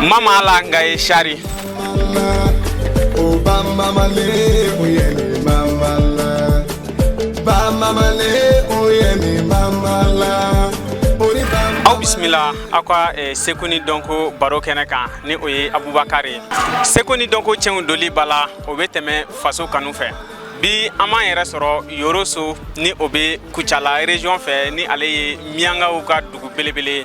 mamala nga ye sari aw bisimila aw ka eh, seko ni dɔnko baro kɛnɛ kan ni o ye abubakar ye seko ni dɔnko cɛnw doli ba la o bɛ tɛmɛ faso kanu fɛ bi an b'an yɛrɛ sɔrɔ yoroso ni o bɛ kucala region fɛ ni ale ye miyankaw ka dugu belebele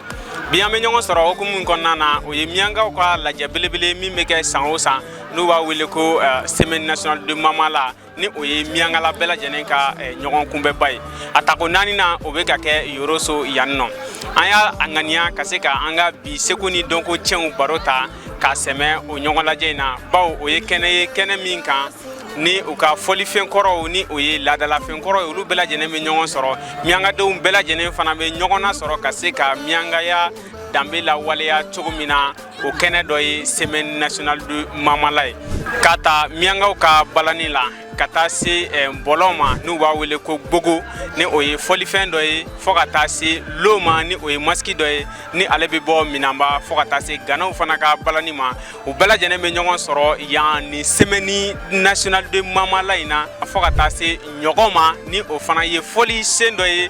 bi an bɛ ɲɔgɔn sɔrɔ hukumu min kɔnɔna na o ye miyankaw ka lajɛ belebele min bɛ kɛ san o san n'u b'a wele ko eh, semaine nationale de mamala ni o ye miyankala bɛɛ lajɛlen ka eh, ɲɔgɔn kunbɛnba ye a tako naani na o bɛ ka kɛ yoroso yan nɔ an y'a ŋaniya ka se ka an ka bi seko ni dɔnko cɛnw baro ta k'a sɛmɛ o ɲɔgɔn lajɛ in na bawo o ye kɛnɛ ye kɛnɛ min kan ni u ka fɔlifɛn kɔrɔw ni o ye laadalafɛn kɔrɔ ye olu bɛɛ lajɛlen bɛ ɲɔgɔn sɔrɔ miyankadenw bɛɛ lajɛlen fana bɛ ɲɔgɔn na sɔrɔ ka se ka miyankaya danbe lawaleya cogo min na o kɛnɛ dɔ ye semaine nationale de mamala ye k'a ta miyankaw ka balani la ka taa se eh, bɔlɔn ma n'u b'a wele ko gbogo ni o ye fɔlifɛn dɔ ye fɔɔ ka taa se lo ma ni o ye masiki dɔ ye ni ale be bɔ minanba fɔɔ ka taa se ganaw fana ka balani ma u bɛɛ lajɛlen be ɲɔgɔn sɔrɔ yan ni semaine nationale de mamala in na fɔɔ ka taa se ɲɔgɔ ma ni o fana ye fɔlisen dɔ ye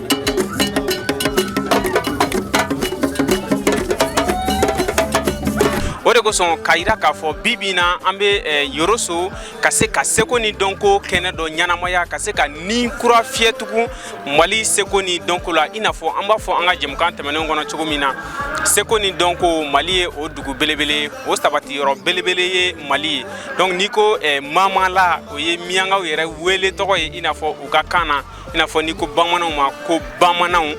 o de kosɔn k'a yira k'a fɔ bi bi in na an bɛ eh, yoroso ka se ka seko ni dɔnko kɛnɛ dɔ ɲanamaya ka se ka ni kura fiyɛ tugun mali seko ni dɔnko la i n'a fɔ an b'a fɔ an ka jɛmukan tɛmɛnenw kɔnɔ cogo min na seko ni dɔnko mali ye o dugu belebele ye o sabati yɔrɔ belebele ye mali ye donc n'i ko eh, mamala o ye miyankaw yɛrɛ wele tɔgɔ ye i n'a fɔ u ka kan na i n'a fɔ n'i ko bamananw ma ko bamananw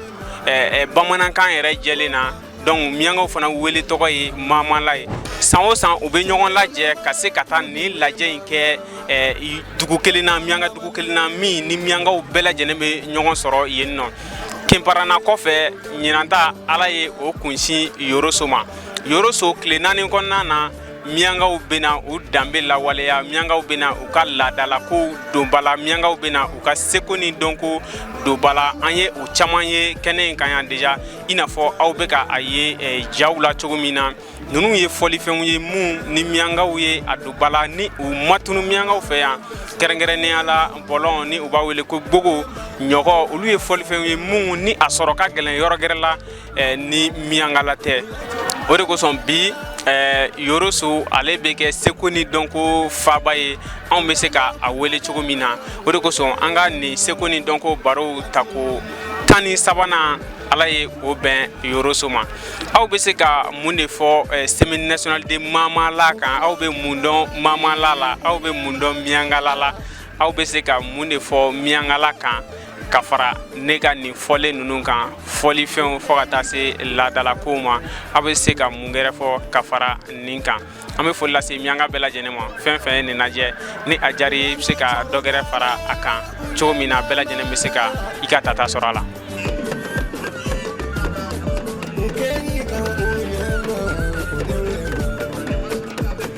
eh, eh, bamanankan yɛrɛ jɛlen na donc miyankaw fana wele tɔgɔ ye mamala ye san o san u bɛ ɲɔgɔn lajɛ ka se ka taa nin lajɛ in kɛ eh, dugu kelen na miyanka dugu kelen na min ni miyankaw bɛɛ lajɛlen bɛ ɲɔgɔn sɔrɔ yen nɔ kenparana kɔfɛ ɲinanta ala ye o kunsin yoroso ma yoroso tile naani kɔnɔna na miyankaw bɛna u danbe lawaleya miyankaw bɛna u ka laadalakow don ba la miyankaw bɛna u ka seko ni dɔnko don ba la an ye o caman ye kɛnɛ in kan yan deja i n'a fɔ aw bɛ ka a ye eh, jaw la cogo min na ninnu ye fɔlifɛnw ye minnu ni miyankaw ye a don ba la ni u ma tunun miyankaw fɛ yan kɛrɛnkɛrɛnnenya la bɔlɔn ni u b'a wele ko gbogo ɲɔgɔ olu ye fɔlifɛnw ye minnu ni a sɔrɔ ka gɛlɛn yɔrɔ gɛrɛ la eh, ni miyankala tɛ o de kosɔn bi eh, yoroso ale bɛ kɛ seko ni dɔnko faaba ye anw bɛ se ka a wele cogo min na o de kosɔn an ka nin seko ni dɔnko barow tako tan ni sabanan ala ye o bɛn yoroso ma aw bɛ se ka mun de fɔ eh, semaine nationale de mamala kan aw bɛ mun dɔn mamala la aw bɛ mun dɔn miyankala la aw bɛ se ka mun de fɔ miyankala kan ka fara ne ka nin fɔlen ninnu kan fɔlifɛnw fo ka taa se laadalakow ma aw bɛ se ka mun gɛrɛ fɔ ka fara nin kan an bɛ foli lase miyanka bɛɛ lajɛlen ma fɛn fɛn ye nin lajɛ ni a diyara i bɛ se ka dɔ gɛrɛ fara a kan cogo min na bɛɛ lajɛlen bɛ se ka i ka tata sɔrɔ a la